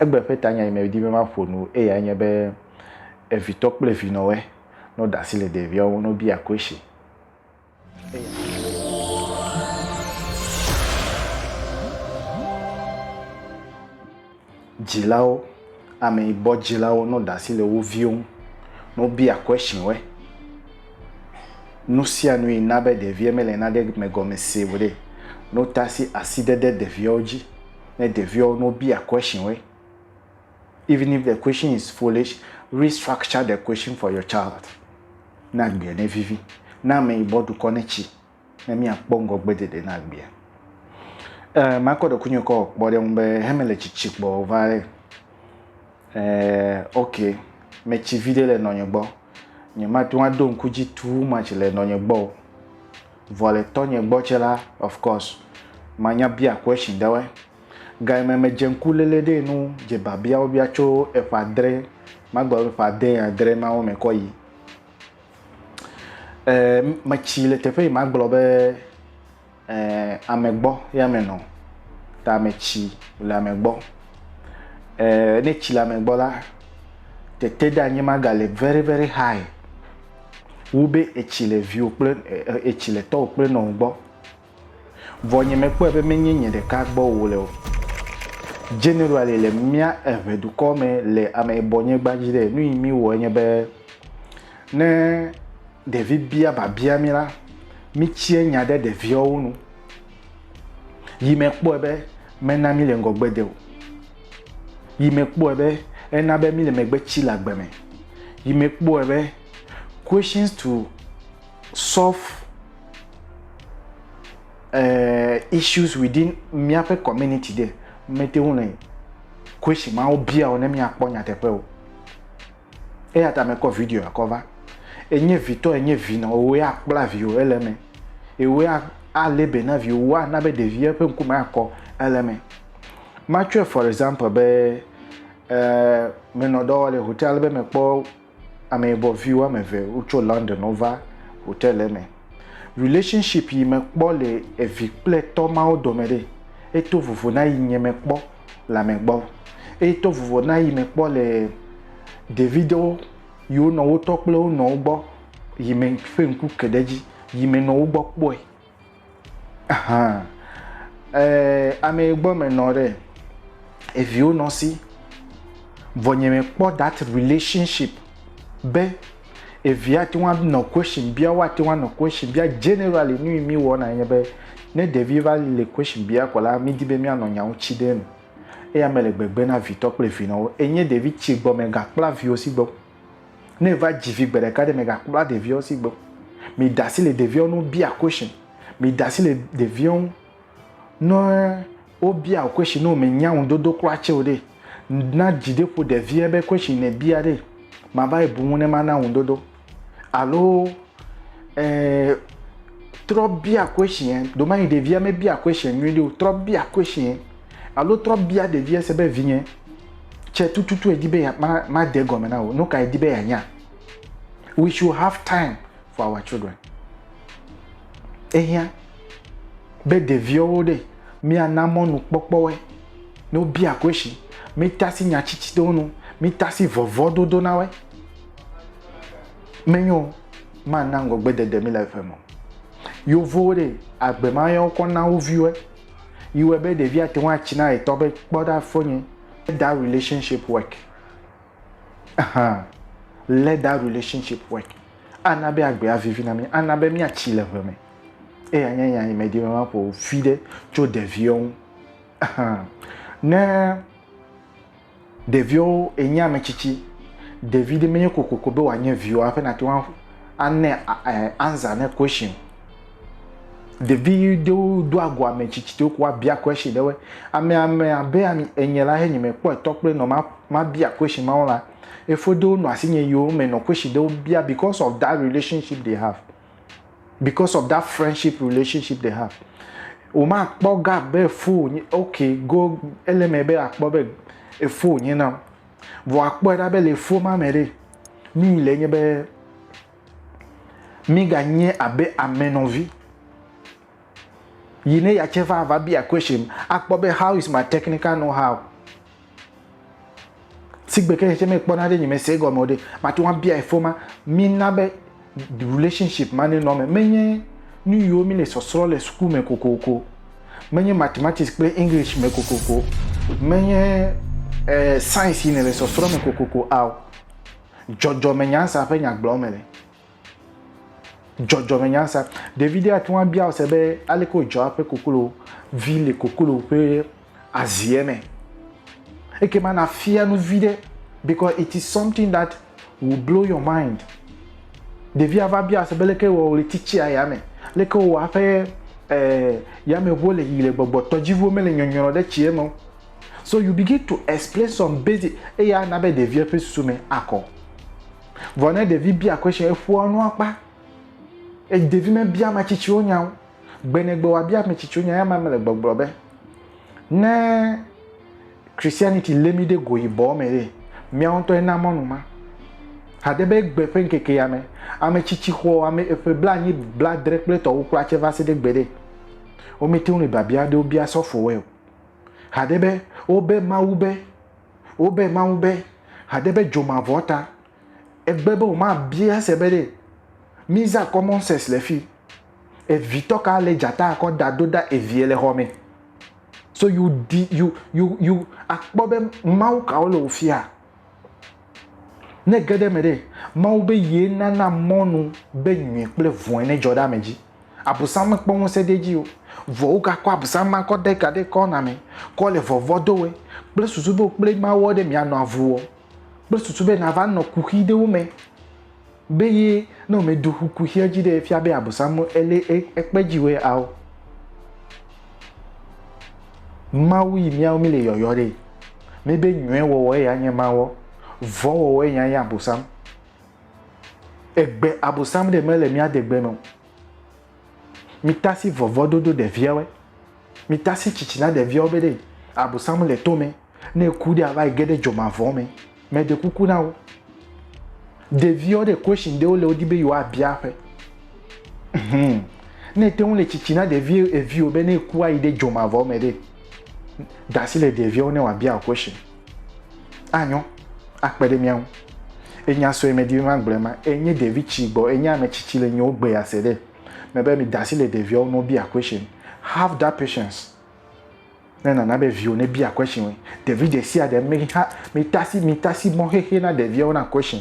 Egbe ƒe tanya yi medi be maƒo nu eyae nye be, Evitɔ kple vinɔwe, nɔ ɖe asi le ɖeviawo ŋu, nɔ bia koeshi. Dzilawo, ame yi bɔ dzilawo, nɔ ɖe asi le wo viwo ŋu, nɔ bia koeshi we. Nu sia nu yi na be ɖevia mele nane me gɔme se o ɖe, nɔ ta si asidede ɖeviawo dzi. ne ɖeviwo ne wobia question woe, even if the question is foolish, restructure the question for your child ne agbea ne vivi. Ne ameyibɔ dukɔ ne tsi ne míakpɔ ŋgɔgbeɖeɖe na agbea. Eh, makɔ ɖekunye kɔ kpɔ ɖe ŋu be heme le tsitsi kpɔ va ɖe. Eh, ok, metsi vi ɖe le nɔnye gbɔ. Nye mate ŋu aɖo ŋku dzi too much le nɔnye gbɔ o. Vɔ le tɔnyɛ gbɔ tsɛ la, of course, manya bia question ɖewoɛ. Gayime me dze ŋku lele ɖee nu dze babiawo bia tso eƒe adrɛ, magblɔ be eƒe ade ya adrɛ mawo me kɔ yi. E, me tsi le teƒe yi magblɔ be e, ame gbɔ ya me nɔ. Ta me tsi le ame gbɔ. E, ne tsi le ame gbɔ la, tete ɖe anyi magale very very high. wu be ètsi le viwò kple ètsi le tɔwò kple nɔwò gbɔ. Vɔ nye mekpɔe be menye nye ɖeka gbɔ wòle o. Generally le mía eŋɛ dukɔ me le ameyibɔnyigba dzi ɖe, nu yi míwɔe nye be ne ɖevi bia biabia mí la, mítsiɛ nya ɖe ɖeviawo nu. Yi mekpɔe be mena míle ŋgɔgbe de o. Yi mekpɔe be ena be míle megbe tsi le agbe me. Yi mekpɔe be questions to solve uh, issues within míaƒe community de mete ŋu le question mawo bia o ne míakpɔ nyateƒe o. Eya ta mekɔ videoa kɔ va. Enye vitɔ, enye vinɔ, wòe akpla viwò ele eme. Ewòe alé be na viwò, wò ana be ɖevia ƒe ŋkume akɔ ele eme. Matsɔe for example be eh, menɔ dɔ wɔm le hotel ale be mekpɔ ameyibɔ vi woame eve wotso London wova hotel eme. Relationship yi mekpɔ le evi kple tɔ mawo dome ɖe, eto vovo na yi nye mekpɔ. le ame gbɔ. Eye to vovo na yi me kpɔ le ɖeviɖewo yi wo nɔwo tɔ kple wo nɔwo gbɔ yi me ƒe ŋku ke ɖe edzi yi me nɔ wo gbɔ kpɔe. Ahan. Ee, ame yi gbɔ me nɔ ɖe eviwo nɔ si. Vɔ nye me kpɔ that relationship be Evee ate ŋu anɔ question bia, woate ŋu anɔ question bia. Generally nu yi mí wɔna enye be ne ɖevi va le question bia kɔ la, mí di be mía nɔ nya ŋuti ɖe enu. Eya me le gbegbe na vitɔ kple vinɔwo. Enye ɖevi tsi gbɔ me ga kpla viwo si gbɔ. Ne eva dzi vi gbe ɖeka ɖe me ga kpla ɖeviwo si gbɔ. Mi ɖe asi le ɖeviwo nu bia question. Mi ɖe asi le ɖeviwo nu. Ne wobia wò question ne wòmenya ŋudodo kura tse o ɖe, na dzi ɖe ƒo ɖevia be question ne bia ɖe, mava yi bu ŋu ne mana ŋudodo. Alo eh, trɔ bia question, ɖomayi ɖevia me bia question nyui ɖe o, trɔ bia question. Alo trɔ bia ɖevia se be vinye, tse tututu edi be ma, ma de gɔme na wò, nuka edi be ya nya. We should have time. for our children. Ehiã be ɖeviwo ɖe míana mɔnukpɔkpɔwɔe ne wobia kwesi, mítasi nya tsitsi ɖewo nu, mítasi vɔvɔdodo na woe. Menyo mana ŋgɔgbedede mi le eƒe me. Yevuwo ɖe agbe ma ya wokɔ na wo viwoe. Yi wɔe be ɖevia te ŋu atsi na etɔ be kpɔ ɖa fonye. Let that relationship work. Ahan. Let that relationship work. Ana be agbe avivi na mí. Ana be míatsi le ʋe me. Eya nye nya yi medi be maƒo vi ɖe tso ɖeviwo ŋu. Ne ɖeviwo enye ame tsitsi, ɖevi ɖe menye kokoko be wòanye viwò hafi nàte ŋu ane ansa ne question. Ɖevi ɖewo doa go ame tsitsi ɖewo ko woabia question ɖewoe. Ame ame abe enye la, ne nye mekpɔe tɔ kple nɔ mabia question mawo la, Efodowo nɔ asinye yewo me nɔ question ɖewo bia because of that relationship they have. Because of that friendship relationship they have. Womakpɔ ga be efo wònye, okay, go, ele eme be akpɔ be efo wònye nam. Vɔ akpɔe ɖa be le efo ma me ɖe, nu yi le nye be míganye abe ame nɔvi. Yi ne ya tse va va bia question, akpɔ be how is my technical know how? sigbe ke hetsɛ mekpɔna ɖe nye me se egɔme o ɖe mate ŋu abia efo ma mina be relationship ma nenɔ me menye nu yiwo mi le sɔsrɔ le suku me kokoko menye mathematics kple english me kokoko menye eh, science yi ne le sɔsrɔ me kokoko ao dzɔdzɔme nyansa ƒe nyagblɔ me le dzɔdzɔmenyansa. Ɖevi ɖe ate ŋu abia wo se be aleke wodzɔa eƒe koklo vi le koklo ƒe aziɛ me. Ekema nàfia nu vi ɖe because it is something that will blow your mind. Ɖevia va bia se be leke wɔ wòle titsia ya me, leke wɔ eƒe ɛɛ eh, yameŋuwo le yiyim le gbɔgbɔ, tɔdziʋuwo mele nyɔnyrɔ ɖe tsia me o. So you begin to explain some basic eya ana be ɖevia ƒe susu me akɔ. Vɔ ne ɖevi bia question, eƒoa nu akpa. E, ɖevi mebia ame tsitsiwo nya o. Gbenegbe wòabia ame tsitsiwo nya, eya mele gbɔgblɔ be ne Christianity lé mi ɖe go yibɔ me ɖe, miawo ŋutɔ ena mɔnu ma. Hade be gbe ƒe ŋkeke ya me, ame tsitsi xɔ ame eƒe blanyi, bladre kple tɔwo kura tse va se ɖe gbe ɖe. Womete ŋu le biabia aɖewo bia sɔfowoe o. Hade be wobe Mawu be Wobe Mawu be hade be dzo mavɔ ta. Egbe be woma bia se be ɖe miza common sex le fi. Evi tɔ ka le dzata akɔ da do da evie le xɔme. So you di you you you akpɔ be Mawu kawo le wofia. Ne ge ɖe me ɖe Mawu be ye nana mɔnu be nyui kple vɔe ne dzɔ ɖe ame dzi. Abosam mekpɔ ŋusẽ ɖe edzi o, vɔ wogakɔ abosam ma kɔ de ga ɖe ekɔ na mɛ, kɔ le vɔvɔ do wɛ, kple susu be wokple Mawuɔ ɖe mìanɔ avuɔ, kple susu be nava nɔ kuxi ɖe wo mɛ. Be ye ne womɛ do xu kuxiɛ dzi ɖe efia be abosam ele ekpe dzi wɛ ao. Mawu yi mìawo mì le yɔyɔ ɖe, mí be nyuiɛ wɔwɔ eya nye Mawuɔ, vɔ̃ wɔwɔ eya nye abosam. Egbe Abosam ɖe mele mía degbe me o. Mitasi vɔvɔ dodo ɖeviawe. Mitasi tsitsi na ɖeviawo be ɖe Abosam le to me. Ne eku ɖe ava yi ge ɖe dzomavɔ me. Me ɖe kuku na wo. Ɖeviawo ɖe question ɖewo le wodi be yewoa bia ƒe. Hmm. Ne ete ŋu le tsitsi na ɖevi eviwo be ne eku ayi ɖe dzomavɔ me ɖe, dasi le ɖeviawo ne wòabia question. Anyo, akpe ɖe mía ŋu. Enya sue medi be magblɔ ema. Enye ɖevi tsi gbɔ, enye ame tsi tsi le nyiwo gbe ya se ɖe. Me be mi dasi le ɖeviawo no bia question. Have that patience. Ne nana be viwo ne bia question we. Ɖevi ɖe sia ɖe mi ha, mi tasi, mi tasi mɔ xexe na ɖeviawo na question.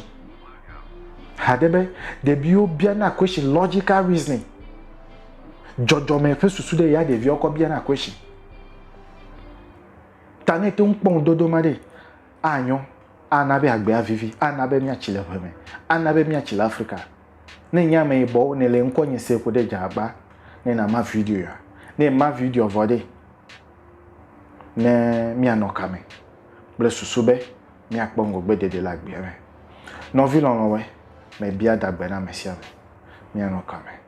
Hade be ɖeviwo bia na question logical reasoning. Jɔjɔme ƒe susu ɖe ya ɖeviawo kɔ bia na question. Ta ne ète ŋu kpɔ ŋudodo ma ɖee, anyo, ana be agbea vivi, ana be míatsi le ʋe me, ana be míatsi le Afrika. Ne nye ameyibɔwo nèle ŋkɔnye se ko ɖe dze agba ne nàma video ya. Ne èma videoa vɔ ɖee, ne míanɔ kame kple susu be míakpɔ ŋgɔgbedede le agbea me. Nɔvi lɔlɔ̃woe, mebia dagbe na ame sia ame. Míanɔ kame.